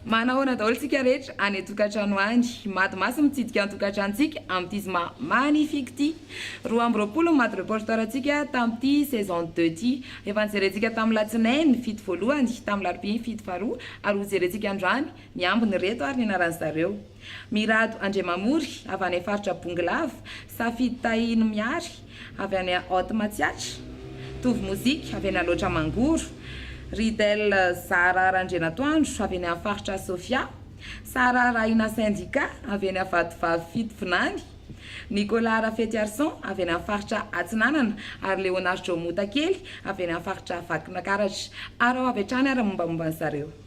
Manahoana daholo tsika rehetra any an-tokantrano any. Mady maso mitsidika ny tokantranontsika amin'ity zoma magnifique ity. Roa amby roapolo ny madi reporter-ntsika tamin'ity saison deux ity. Efa nojerentsika tamin'ny latsinainy fito voalohany, tamin'ny larobia ny fito faharoa ary hojerentsika androany Miambina ireto ary ny anaran'ny zareo, Mirado Andriamamory avy any faritra Bongolava, Safidy Tahino Mihary avy any Haute Matsiatra, Tovo Mozika avy eny Alaotra Mangoro, Ridel Zara Randrianatoandro avy eny amin'ny faritra Sofia, Sara Rahina Sendika avy eny Vatovavy Fitovinany, Nicolas Rafetiarison avy eny amin'ny faritra Atsinanana ary Leonardo Motakely avy eny amin'ny faritra Vakinakaratra. Araho avy hatrany ary ny mombamomba an'i zareo.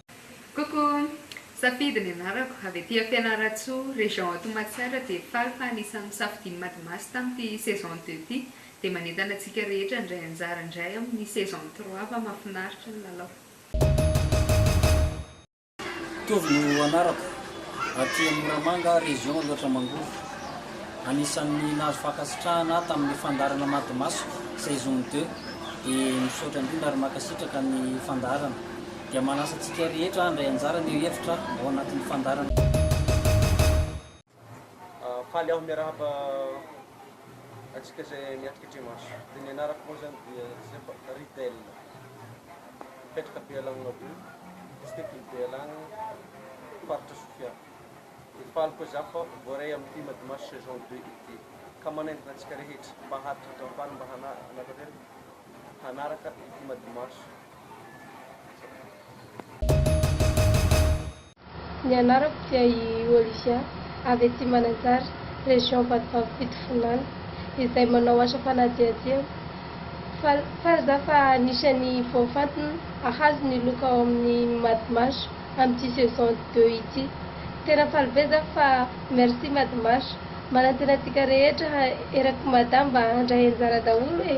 Coucou! Safidy ny anarako, avy aty Fianarantsoa, région à Tohmatsaina dia faly fa anisan'ny nosafidian'i Madimasy tamin'ity saison deux ity dia manentana antsika rehetra handray anjara indray amin'ny saison trois fa mafinaritra ny lalao. Tovo no anarako, aty amin'ny Moramanga, région Aloatra Mangoro. Anisan'ny nahazo fankasitrahana ahy tamin'ny fandaharana Madimasiko saison deux dia misaotra indrindra ary mankasitraka ny fandaharana. dia manasa antsika rehetra handray anjara ny hevitra ao anatin'ny fandaharana. Faly aho miarahaba antsika izay miatrika trimestre. Dia ny anarako moa izany dia Joseph Ridel. Mipetraka Bealagnona Be, district ny Bealagna, faritra Sofia. Dia faly koa izaho fa voaray amin'ity Madmash saison deux ity, ka manaingoka antsika rehetra mba hahatonga faly mba hanatanteraka hanaraka ity Madmash. Ny anarako dia i Olivia, avy aty Mananjary, région Vatovavy Fitovinany, izay manao asa fanadihadiana. Faly faly za fa anisan'ny voafantina hahazo ny loka ao amin'ny Madmah amin'ity saison deux ity. Tena faly be za fa merci Madmah. Manantena antsika rehetra erak'i Mada mba handray anjara daholo e!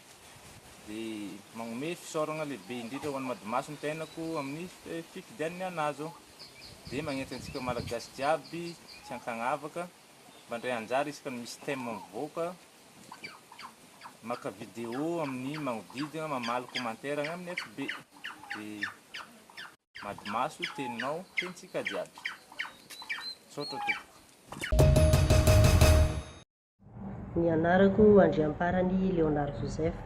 dia magnome fisaoragna lehibe indrindra ho an'i Madimaso ny fiainako amin'ny fifidianiny an'azy dia magnenty antsika Malagasy jiaby tsy ankagnavaka mba ndray anjara isaka ny misy thème mivoaka maka vidéo amin'ny magnodidigna mamaly commentaire agny amin'ny FB dia Madimaso teninao tenintsika jiaby misaotra tompoko. Ny anarako Andriamparany Léonard Joseph,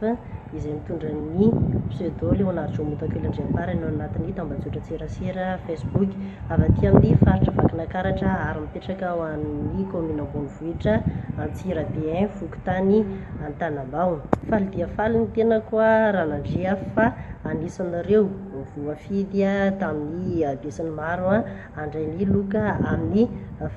izay mitondra ny pseudo Léonard Jomotakely Andriamparany ao anatin'ny tambajotran-tserasera Facebook, avy aty amin'ny faritra Vakinakaratra ary mipetraka ao amin'ny kaominina Ambonivohitra, Antsirabe I, fokontany Antanambao. Faly dia faly ny tenako raha nandre aho fa anisanareo voafidy tamin'ny habesany maro Andray ny loka amin'ny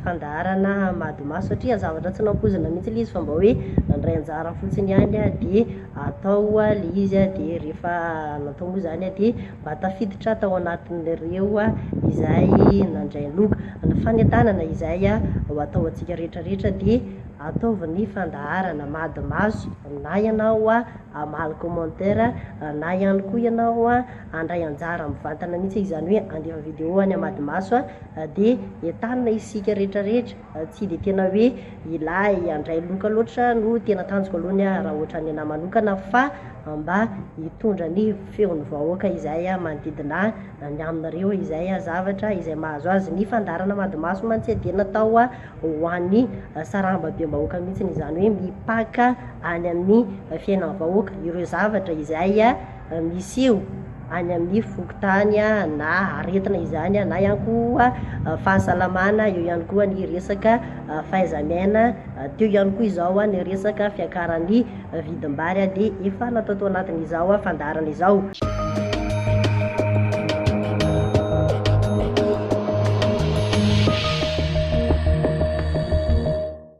fandaharana Madimaso satria zavatra tsy nampoizina mihitsy ilay izy fa mba hoe nandray anjara fotsiny ihany dia atao ilay izy dia rehefa natao moa izany dia mba tafiditra tao anatin'ireo izay nandray ny loka. Fanentanana izay ho atao antsika rehetra rehetra dia ataovy ny fandaharana Madimaso na ianao hamaly commentaire na ihany koa ianao handray anjara mivantana mihitsy e, izany hoe handefa video any amadmaso a, dia entanina isika rehetra rehetra, tsy dia tena hoe ilay handray loka loatra no tena tanjoko aloha ny ahy raha ohatran'ny anahy manokana fa mba hitondra ny feon'ny vahoaka izay manodidina ny aminareo izay zavatra izay mahazo azy, ny fandaharana amadmaso mantsy dia natao ho an'ny sarambabem-bahoaka mihitsy izany hoe mipaka any amin'ny fiainan'ny vahoaka ireo zavatra izay misy eo any amin'ny fokontany na aretina izany na ihany koa fahasalamana, eo ihany koa ny resaka fahaiza-miaina, teo ihany koa izao ny resaka fiakaran'ny vidim-bary dia efa natao tao anatin'izao fandaharana izao.